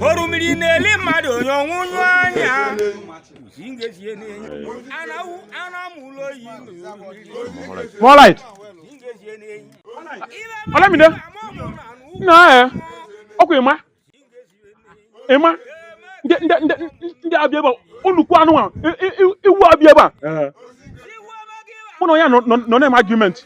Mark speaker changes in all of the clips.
Speaker 1: orumiri na-eli mmadụ onye ọnwụ nyụ
Speaker 2: anya More light. Olamide. Na eh. Ọkwa Emma. Emma. Ndị ndị ndị ndị abịa ebe a nnukwu anụmanụ iwu abịa ebe a. Mụ na onye nọ nọ na-eme argument.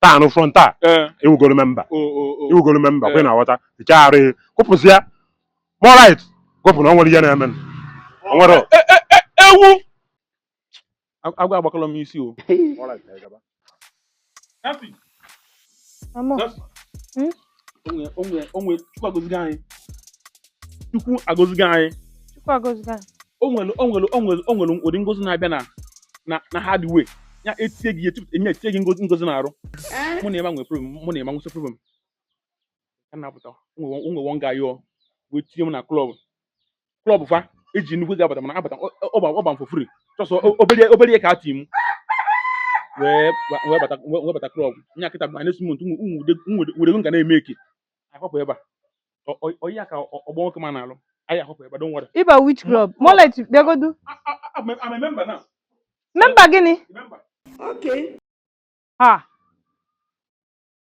Speaker 3: taa anụ front a Eh, ị wụgoro memba o, o, o. ị wụgoro memba kwe na-aghọta nke arụ ihe kwụpụzi ya More light kwụpụ na o nwere ihe na-eme o nwere Eh, eh, eh, eh,
Speaker 2: ewu Ag- agwa agbakọrọ m isi o Mama, onwe onwe onwe chukwu agọzigo anyị chukwu agọzigo anyị chukwu agọzigo anyị onwere onwere onwere onwere ụdị ngozi na-abịa na na na hard way ya etie gị etu enye etie gị ngozi ngozi na-arụ mụ na Emma nwere problem mụ na Emma nwesị problem ka na-apụta onwe onwe one guy ọ wee tinye m na klọb klọb fa eji nnukwu ego abata mana abata ọ- ọ gba- ọ gba m for free just o- obere obere ihe ka e ti m wee ba- wee bata wee wee bata klọb nya kịta by next month ụmụ- ụmụ ude- ụmụ ude- ude ego m ga na-eme eke akwapụ ebe a Ọ- ọ- ọ ya ka ọ- ọgbọ nwoke ma na-alụ anyị akwapụ ebe a don't worry ịba which club More
Speaker 4: light bịagodu memba
Speaker 2: na memba gịnị
Speaker 4: memba ha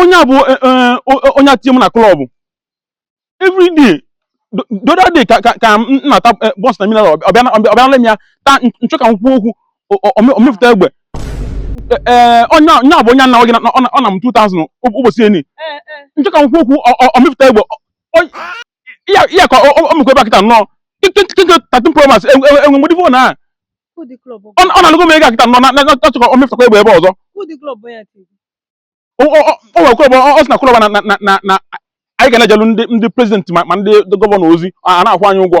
Speaker 2: onye a bụ eh, eh, eh, onye a tinye m na klọb everyday the other day ka ka m na-ata buns na mineral ọ bịa nala m ya taa nchọ ka m kwuo okwu o mefụta egbe ee onye a bụ onye anna gị ọ na m 2000 ụbọchị eni nchọ ka m kwuo okwu o mefụta egbe ya ya ka ọ mekwa ebe akịta nnọọ tatin promas enwe mgbedi fon a ọ nalụgo m ego akịta nnọọ na-achọ ka ọ mefụtakwa egbe ebe ọzọ o nwere klọb ọ sị na klọb na na anyị ga na-ejelụ ndị ndị prezidenti ma ndị gọvanọ ozi a na-akwụ anyị ụgwọ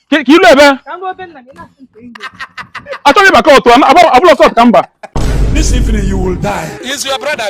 Speaker 2: ka i lu
Speaker 4: ebe achọghị
Speaker 2: ịba cult abụlọ cult ka m
Speaker 5: ba This
Speaker 6: evening you
Speaker 5: will die.
Speaker 1: Is
Speaker 5: your brother?